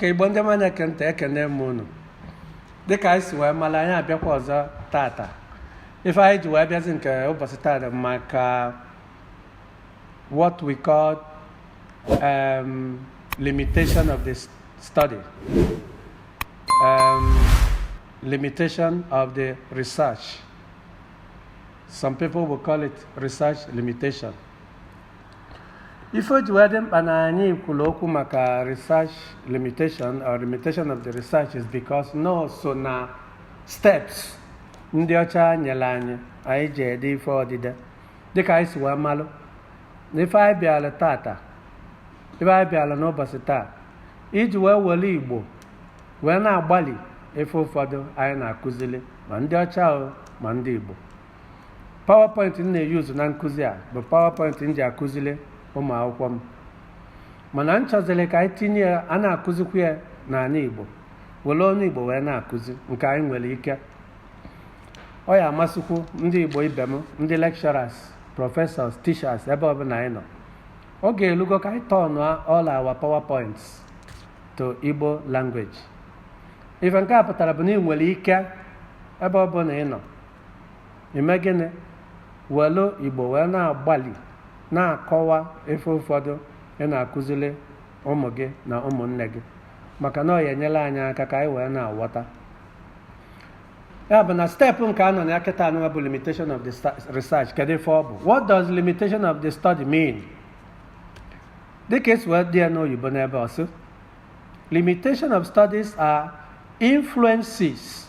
ka igbo ndị ọma na-ege ntị ekene m unu dịka anyị si wee malụ anyị abịakwa ọzọ tata ife anyị ji wee bịazi nke ụbọsị tata maka what we call um, limitation of the study um, limitation of the research some people will call it research limitation ife o ji wee dị mkpa na anyị kwuru okwu maka research limitation or limitation of the research is because na o so na steps ndị ọcha nyere anyị anyị ji ede ife odide dịka anyị si wee malụ na ife anyị bịara tata ife anyị bịara n'ụbọsị taa iji wee welu igbo wee na-agbalị ife ụfọdụ anyị na-akụzili ma ndị ọcha o ma ndị igbo PowerPoint m na-euse na nkụzi a bụ PowerPoint m ji akụzili ụmụ akwụkwọ m mana m chọzili ka anyị tinye ya a na-akụzikwu ya n'anị Igbo welu ọnụ Igbo wee na-akụzi nke anyị nwere ike ọ ya-amasịkwu ndị Igbo ibe m ndị lecturers professors teachers ebe ọbụla anyị nọ oge elugo ka anyị turn all our PowerPoints to Igbo language ife nke a pụtara bụ na ị nwere ike ebe ọ bụla ị nọ ime gịnị welu igbo wee na-agbalị na-akọwa ife ụfọdụ ị na-akụzili ụmụ gị na ụmụnne gị maka na ọ ya-enyelu anyị aka ka anyị wee na-aghọta ya bụ na step nke a nọ na ya kịta anụnwa bụ limitation of the sta- research kedu ife ọ bụ what does limitation of the study mean dịka e si wee dee ya n'oyibo n'ebe ọ sị limitation of studies are influences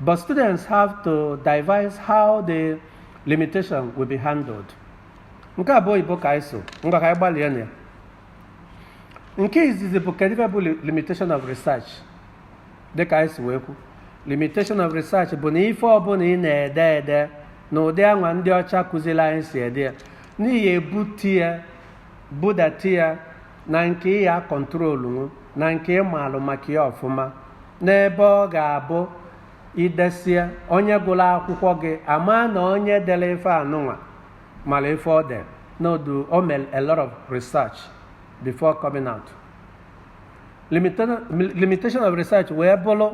But students have to devise how the limitation will be handled. Nke a bụ oyibo ka anyị sụ, ngwa ka anyị gbalịa na ya. Nke izizi bụ kedu ife bụ limitation of research dị ka anyị si wee kwu. Limitation of research bụ na ife ọbụla ị na-ede ede na ụdị anwa ndị ọcha kụzili anyị si ede ya na ị ya-ebute ya budata ya na nke ị ya-controlnwu na nke ị malụ maka ya ọfụma N'ebe ọ ga-abụ i desịa onye gụlụ akwụkwọ gị ama na onye delu ife anụnwa malụ ife ọ dere n'odu o mere a lot of research before coming out limitation of research wee bụlụ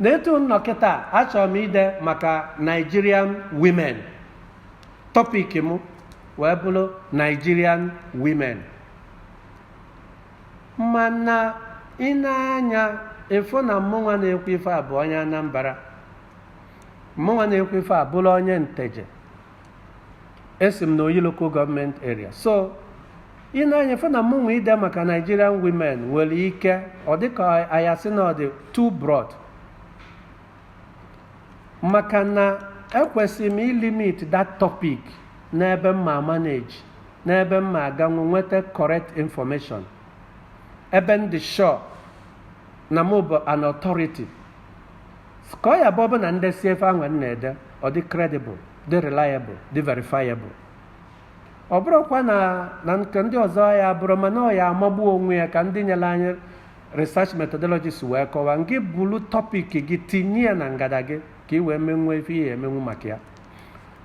na etu m nọ kịta achọrọ m ide maka Nigerian women topic m wee bụlụ Nigerian women mana ị nee anya ị fụ na mmụnwa na-ekwu ife a bụ onye Anambra mmụnwa na-ekwu ife a bụrụ onye Nteje esi m na Oyi Local Government Area so ị nee anya ị fụ na mmụnwa ide maka Nigerian women nwere ike ọ dịka a ya-asị na ọ dị too broad maka na ekwesịrị m ilimit that topic n'ebe m ma manage n'ebe m ma aganwu nweta correct information ebe m dị sure na m bụ an authority ka ọ ya-abụ ọ bụrụ na m desie ife ahụ m na-ede ọ dị credible dị reliable dị verifiable ọ bụrọkwa na nke ndị ọzọ ya bụrụ mana ọ ya-amagbu onwe ya ka ndị nyere anyị research methodologies wee kọwaa ngị bulu topic gị tinye ya na ngada gị ka ị wee menwuo ife ị ya-emenwu maka ya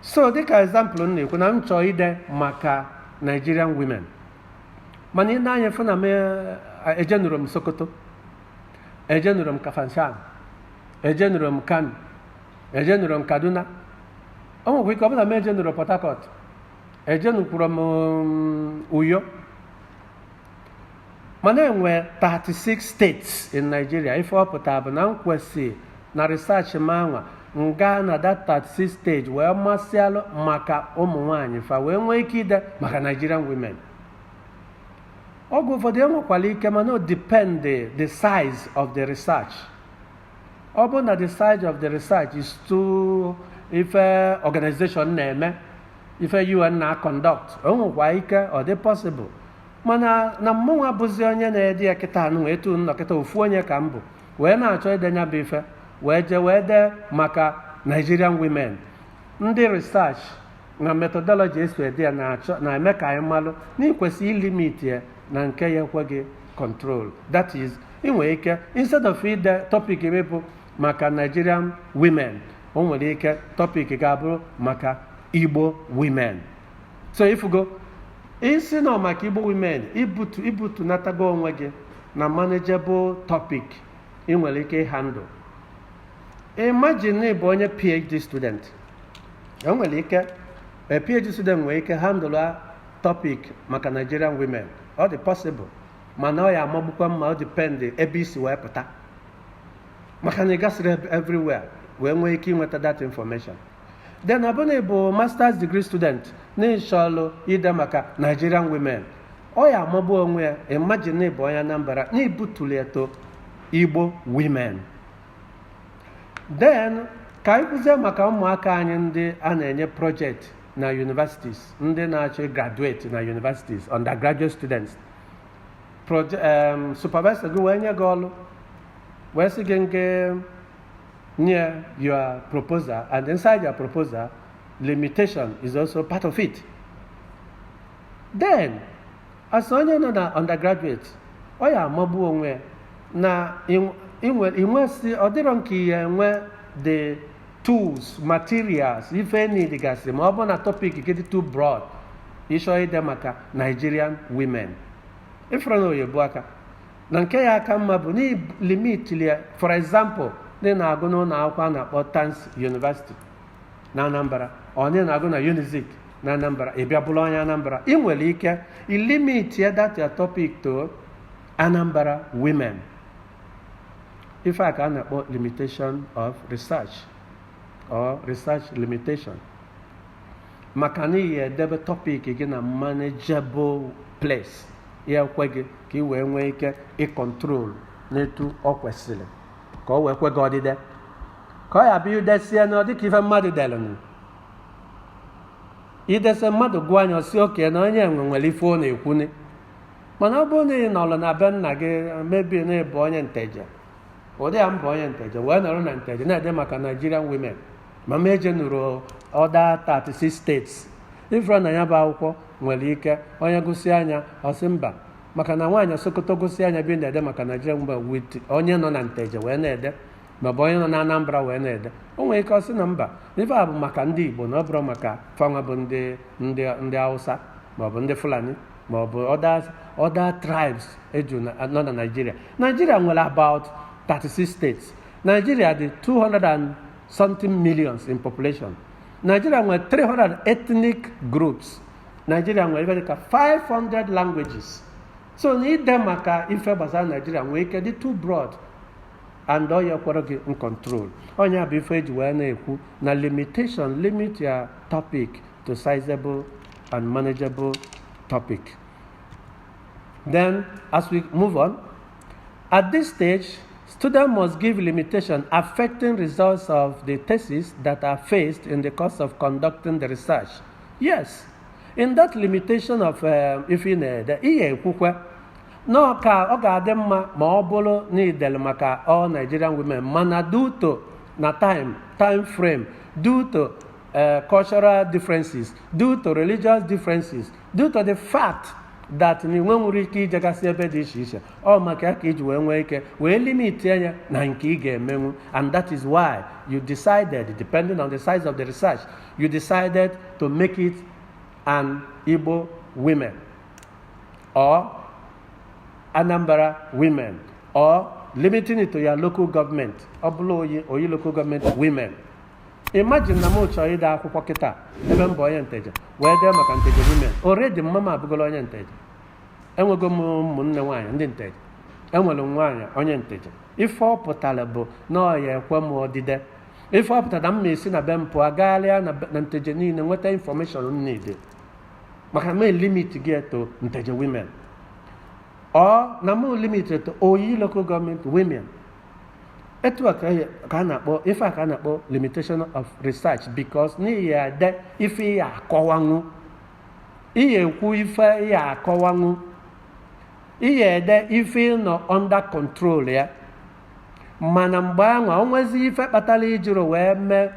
so dịka example m na-ekwu na m chọọ ide maka Nigerian women mana ị nee anya fụ na m ejenurọ m Sokoto ejenurọ m Kafanchan ejenurọ m Kano ejenurọ m Kaduna o nwekwa ike ọ bụrụ na m ejenurọ Port Harcourt ejenukwurọ m Uyo mana enwe 36 states in Nigeria ife ọ pụtara bụ na m kwesị na research m anwa m gaa na that 36 state wee masịalụ maka ụmụ nwaanyị fa wee nwee ike ide maka Nigerian women oge ụfọdụ e nwekwara ike mana o depend the, the size of the research ọ bụrụ na the size of the research is too ife organization na-eme ife UN na-aconduct o nwekwa ike ọ dị possible mana na mmụnwa bụzi onye na-ede ya kịta anwa etu m nọ kịta ofu onye ka m bụ wee na-achọ ide nya bụ ife wee jee wee dee maka Nigerian women ndị research na methodology esi ede ya na-eme ka anyị malụ na i kwesị ilimit ya na nke ya-ekwe gị control that is ị nwere ike instead of ide topic gị bụ maka Nigerian women o nwere ike topic ga-abụrụ maka Igbo women so ị fụgo ị sị na ọ maka igbo women i butunatago onwe gị na manageable topic ị nwere ike ihandle imagine na ị bụ onye phd student enwere ike a phd student nwere ike handle a topic maka nigerian women ọ dị possible mana ọ ya-amagbukwa mma ọ depend ebe i si wee pụta maka na ị gasịrị everywhere wee nwee ike ịnweta that information then ọ bụrụ na ị bụ masters degree student n'ịchọlụ ide maka nigerian women ọ ya amagbu onwe ya imagine ịbụ onye anambra na ibutuli ya to igbo women then ka anyị kwuzie maka ụmụaka anyị ndị a na-enye project na universities ndị na-achọ graduate na universities undergraduate students Proje- em, supervisor gị wee nye gị ọlụ wee sị gị ngị nye ya your proposal and inside your proposal, limitation is also part of it. Then, as onye nọ na undergraduate, ọ ya amagbu onwe na inwesị ọ dịrọ nke ị ya enwe the tools materials ife ị needigasị ma ọ bụ na topic gị dị too broad ịchọ ide maka Nigerian women ị fụrụ na ọ ya ebuka na nke ya aka mma bụ n'ilimit ya for example ndị na-agụ n'ụlọ akwụkwọ a na-akpọ Tans University na Anambra onye na-agụ na Unizik na Anambra ị bịa bụrụ onye Anambra ị nwere ike ilimit ya that your topic to Anambra women ife a ka a na-akpọ limitation of research or research limitation maka na ị ya edebe topic gị na manageable place ya ekwe gị ka ị wee nwee ike icontrol n'etu ọ kwesịrị ka ọ wee kwe gị odide ka ọ ya bụ idesịa nya ọ dịka ife mmadụ delụnụ idesịa mmadụ gụọ nya ọ sị okay na onye anwa nwere ife ọ na-ekwuni mana ọ bụrụ na ị nọrọ na be nna gị maybe na ịbụ onye nteje ụdị ya m bụ onye nteje wee nọrọ na nteje na-ede maka Nigerian women ma m ejenụrọ other 36 states ị fụrụ na ya bụ akwụkwọ nwere ike onye gụsịa nya ọ sị mba maka na nwaanyị sokoto gụsịa nya ebe ị na-ede maka nigerian women with onye nọ na nteje wee na-ede maọbụ onye nọ na anambra wee na-ede o nwere ike ọ sị na mba ife a bụ maka ndị igbo na ọ bụrọ maka fanwa bụ ndị ndị ndị hausa maọbụ ndị fulani maọbụ other other tribes eju na- nọ na nigeria nigeria nwere about 36 states Nigeria dị 200 and something millions in population. Nigeria nwere 300 ethnic groups. Nigeria nwere ife dịka 500 languages. So na ide maka ife gbasara Nigeria nwere ike dị too broad and ọ ya ekwerọ gị ncontrol ọ nya bụ ife eji wee na-ekwu na limitation limit your topic to sizable and manageable topic then as we move on At this stage, students must give limitation affecting results of the thesis that are faced in the course of conducting the research. Yes, in that limitation of uh, ife ị na-ede ị ya-ekwukwe na ọ ka ọ ga-adị mma ma ọ bụlụ na i dele maka all Nigerian women mana due to na time time frame due to uh, cultural differences due to religious differences due to the fact that na i nwe nwero ike ijegasị ebe dị iche iche ọ maka ya ka i ji wee nwee ike wee limit ya na nke ị ga-emenwu and that is why you decided depending on the size of the research you decided to make it an Igbo women or Anambra women or limiting it to your local government ọ bụla oyi oyi local government women imagine na m chọọ ide akwụkwọ kịta ebe m bụ onye nteje wee dee maka nteje women already mama m abụgolo onye nteje enwego m ụmụnne nwaanyị ndị nteje enwere m nwaanyị onye nteje ife ọ pụtara bụ na ọ ya-ekwe m odide ife ọ pụtara na m na-esi na be m pụọ gagharịa na be- na nteje niile nweta information m niile maka na m limitigo ya to nteje women or na m limit ya to oyi local government women etu a ka ya- ka a na-akpọ ife a ka a na-akpọ limitation of research because na ị ya-ede ife ị ya-akọwanwu ị ya-ekwu ife ị ya-akọwanwu ị ya-ede ife ị nọ under control ya mana mgbe anwa o nwezi ife kpatara i jiro wee mee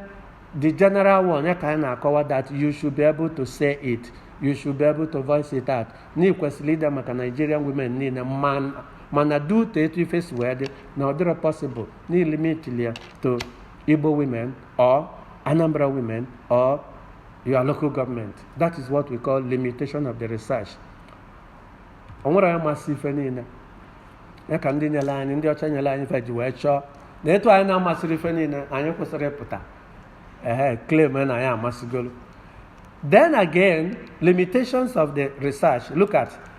the general one ya ka anyị na-akọwa that you should be able to say it you should be able to voice it out na i kwesịrị ide maka nigerian women niile ma mana due to etu ife si wee dị na ọ dịrọ possible na i limit ya to Igbo women or Anambra women or your local government that is what we call limitation of the research o nwero onye masị ife niile ya ka ndị nyere anyị ndị ọcha nyere anyị ife ji wee chọọ na etu anyị na-amasịrọ ife niile anyị ekwesịrọ ịpụta ehe claim na anyị amasịgolo then again limitations of the research look at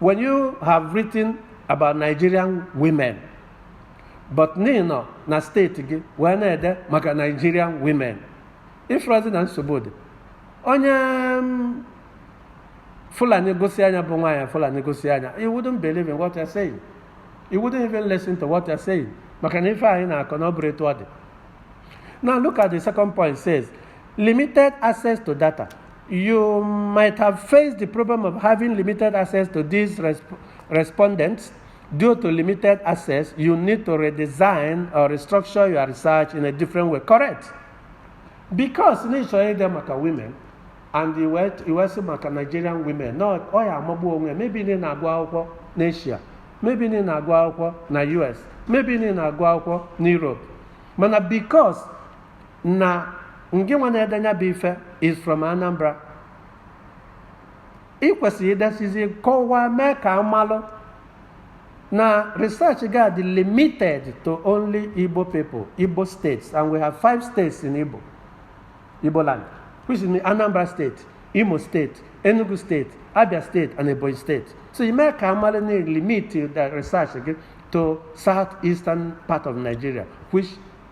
When you have written about Nigerian women but na ị nọ na state gị wee na-ede maka Nigerian women ifrazi na nsogbu dị onye mm, Fulani gosi ya nya bụ nwaanyị Fulani gosi ya nya he wouldn't believe in what you're saying he wouldn't even listen to what you're saying maka na ife ị na-akọ na ọ bụrọ etu ọ dị now look at the second point says limited access to data You might have faced the problem of having limited access to these resp respondents. Due to limited access, you need to redesign or restructure your research in a different way. Correct? Because initially they maka women and you were, you were maka Nigerian women. No, oh yeah, mabu onwe. Maybe in na akwụkwọ n'Asia. Maybe in na akwụkwọ na US. Maybe in na akwụkwọ n'Europe. Mana because na ngị nwa na-ede nya bụ ife is from Anambra ị kwesịrị idesizi kọwaa mee ka amalụ na research ga-adị limited to only Igbo people Igbo states and we have five states in Igbo Igbo land which is Anambra state Imo state Enugu state Abia state and Ebonyi state so ị mee ka amalụ na ị limitiri research gị to south eastern part of Nigeria which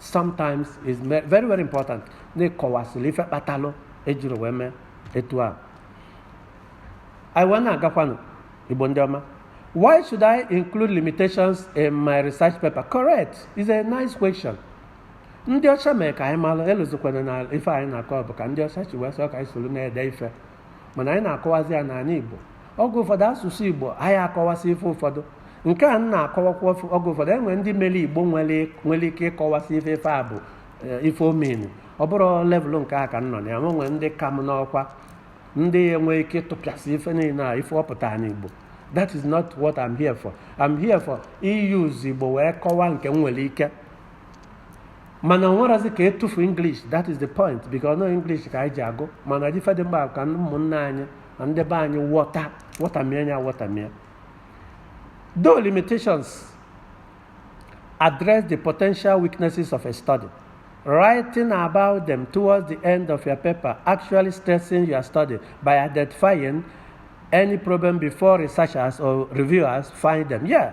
sometimes is very very important na ị kọwasịrị ife kpatalụ ejiri wee mee etu a anyị wee na-agakwanụ igbo ndị ọma why should i include limitations in my research paper correct it's a nice question ndị ọcha mee ka anyị mara elụzikwana na ife anyị na-akọ bụ ka ndị ọcha chi wee sọ ka anyị soro na-ede ife mana anyị na-akọwazi ya n'ala Igbo oge ụfọdụ asụsụ Igbo anyị akọwasị ife ụfọdụ nke a na-akọwakwa oge ụfọdụ enwere ndị mere Igbo nwere ike ịkọwasị ife ife a bụ eh, ife ọ mean ọ bụrụ level nke a ka m nọ na ya nwe nwere ndị ka m n'ọkwa ndị nwe ike ịtụpịasị ife niile a ife ọ pụta n'Igbo that is not what I'm here for I'm here for use Igbo wee kọwaa nke m nwere ike mana ọ bụrọ asị ka e tufuo english that is the point because na ọ english ka anyị ji agụ mana ọ dị ife dị mkpa ka ụmụnne anyị na ndị be anyị wọta wọtamie nya wọtamie though limitations address the potential weaknesses of a study writing about them towards the end of your paper actually strengthens your study by identifying any problem before researchers or reviewers find them yeah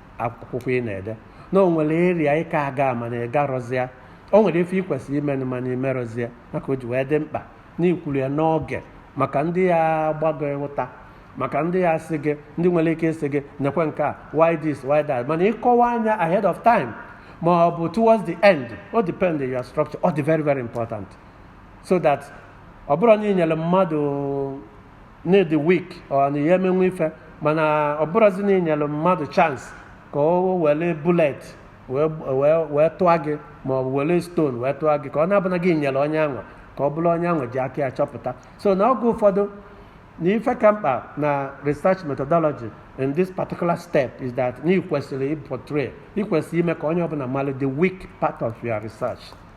akwụkwọ ị na-ede na o nwere area ị ka aga mana ị garọzị ya o nwere ife ị kwesịrị imenụ mana i merọzi ya maka o ji wee dị mkpa na i kwuru ya n'oge maka ndị ya-agba gị ụta maka ndị ya sị gị ndị nwere ike ịsị gị nekwe nke a why this why that mana ị kọwaa nya ahead of time ma ọ bụ towards the end o depend your structure ọ dị very very important so that ọ bụrụ na ị nyere mmadụ na ị dị weak ọ na ya emenwe ife mana ọ bụrụzi na i nyere mmadụ chance ka o were bulet wee tụọ gị ma ọ bụ were stone wee tụọ gị ka ọ na-abụna gị nyere onye anwa ka ọ bụrụ onye anwa ji aka ya chọpụta so na oge ụfọdụ na ife ka mkpa na research methodology in this particular step is that na ị kwesịrị ịportray ị kwesịrị ime ka onye ọbụla mara the weak part of your research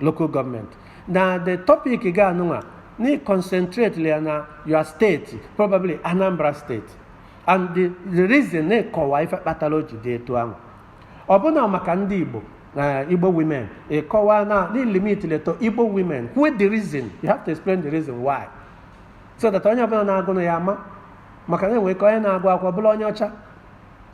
local government na the topic gị anụnwa na ị concentrate ya na your state probably anambra state and the, the reason na ị kọwaa ife kpatara o ji dị etu ahụ ọ bụrụ na maka ndị igbo na igbo women ị kọwaa na na ị limitiri to igbo women kwue the reason you have to explain the reason why so that onye ọbụla na-agụ nya ama maka na enwere ike onye na-agụ akwụkwọ bụrụ onye ọcha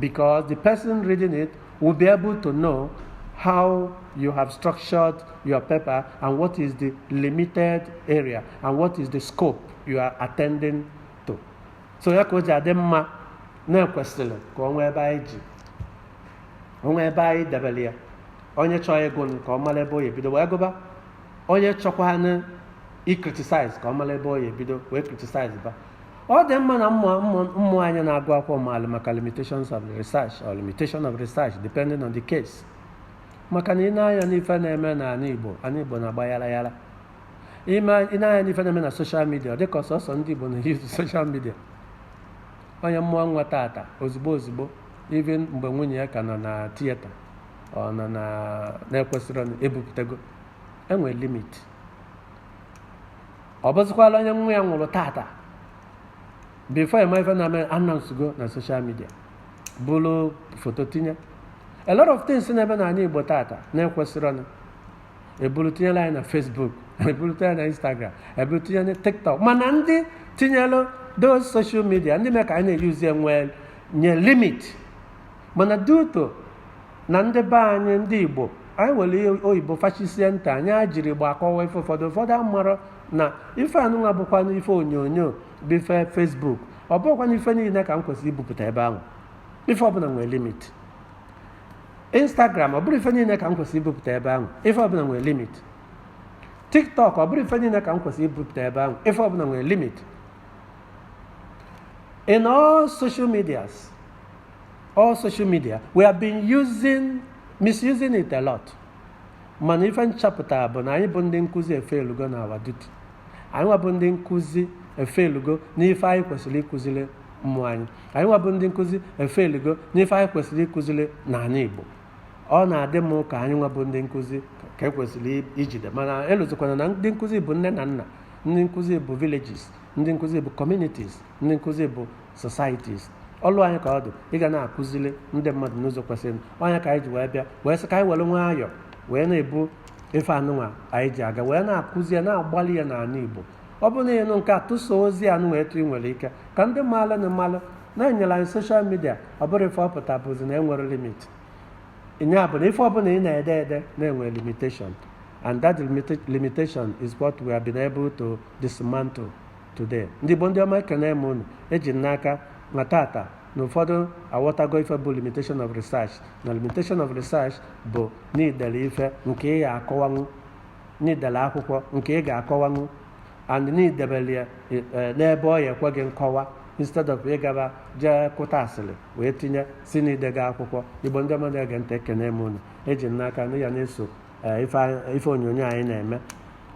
because the person reading it will be able to know how you have structured your paper and what is the limited area and what is the scope you are attending to. So ya ka o ji adị mma na ekwesịrị ka ọ nwee ebe anyị ji o nwee ebe anyị debere ya onye chọọ ịgụ nụ ka ọ mara ebe ọ ya-ebido wee gụba onye chọkwanụ i criticize ka ọ mara ebe ọ ya-ebido wee criticize ba ọ dị mma na ụmụ anyị na-agụ akwụkwọ maalụ maka limitations of research or limitation of research depending on the case maka na i nee anya n'ife na-eme n'ala Igbo ala Igbo na-agba yara yara i nee anya n'ife na-eme na social media ọ dịka ọ sọsọ ndị Igbo na-use social media onye mụọ nwa tata ozugbo ozugbo even mgbe nwunye ya ka nọ na theatre ọ nọ na na-ekwesịrọ ebupụtago enwere limit ọ bụzịkwala onye nwa ya nwụrụ tata before a ma ife na-eme a announcego na social media buru foto tinye a lot of things na-eme n'ala igbo tata na-ekwesịrọnụ eburu tinyelụ anyị na facebook eburu tinyela na instagram eburu tinyela na tiktok mana ndị tinyelụ those social media ndị mee ka anyị na-use enwe nye limit mana due to na ndị be anyị ndị igbo anyị welụ oyibo fachisie ntị anyị ejirọ igbo akọwa ife ụfọdụ ụfọdụ amarọ na ife anụnwa bụkwa na ife onyonyo bụ ife facebook ọ bụkwa na ife niile ka m kwesịrị ibupụta ebe ahụ ife ọbụla nwere limit instagram ọ bụrọ ife niile ka m kwesịrị ibupụta ebe ahụ ife ọbụla nwere limit tiktok ọ bụrọ ife niile ka m kwesịrị ibupụta ebe ahụ ife ọbụla nwere limit in all social medias all social media we have been using misusing it a lot mana ife nchọpụta bụ na anyị bụ ndị nkụzi efelugo na our duty anyị nwa bụ ndị nkụzi efelugo n'ife anyị kwesịrị ịkụziri ụmụ anyị anyị nwa bụ ndị nkụzi efelugo n'ife anyị kwesịrị ịkụziri n'ala Igbo ọ na-adị m ka anyị nwa bụ ndị nkụzi ka ekwesịrị ijide mana elozikwana na ndị nkụzi bụ nne na nna ndị nkụzi bụ villages ndị nkụzi bụ communities ndị nkụzi bụ societies ọlụ anyị ka ọ dị ịga na-akụziri ndị mmadụ n'ụzọ kwesịrị ọ nya ka anyị ji wee bịa wee sị ka anyị were nwayọọ wee na-ebu ife anụnwa anyị ji aga wee na-akụzi ya na-agbalị ya n'ala Igbo ọ bụrụ na ị nụ nke a tụso ozi anụnwa etu ị nwere ike ka ndị mmadụ malụ na enyere anyị social media ọ bụrọ ife ọ pụta bụzi na enwerọ limit nya bụ na ife ọbụla ị na-ede ede na-enwe limitation and that limitation is what we have been able to dismantle today ndị Igbo ndị ọma ekene m unu eji m n'aka na tata na ụfọdụ aghọtago ife bụ limitation of research na limitation of research bụ n'idele ife nke ị ga-akọwanwu n'idele akwụkwọ nke ị ga-akọwanwu and n'idebele ya e- e, n'ebe ọ ya ekwe gị nkọwa instead of ịgaba jee kụta asịrị wee tinye si n'idega akwụkwọ igbo ndị ọma na-ege ntị ekene m unu eji m n'aka na ya na-eso e, ife anyị- ife onyonyo anyị na-eme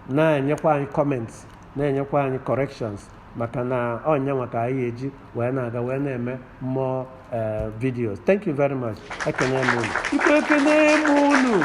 na-enyekwa anyị comments na-enyekwa anyị corrections maka na ọ nyanwa ka anyị eji wee na-aga wee na-eme more eh, videos thank you very much ekene m unu Igbo ekene m unu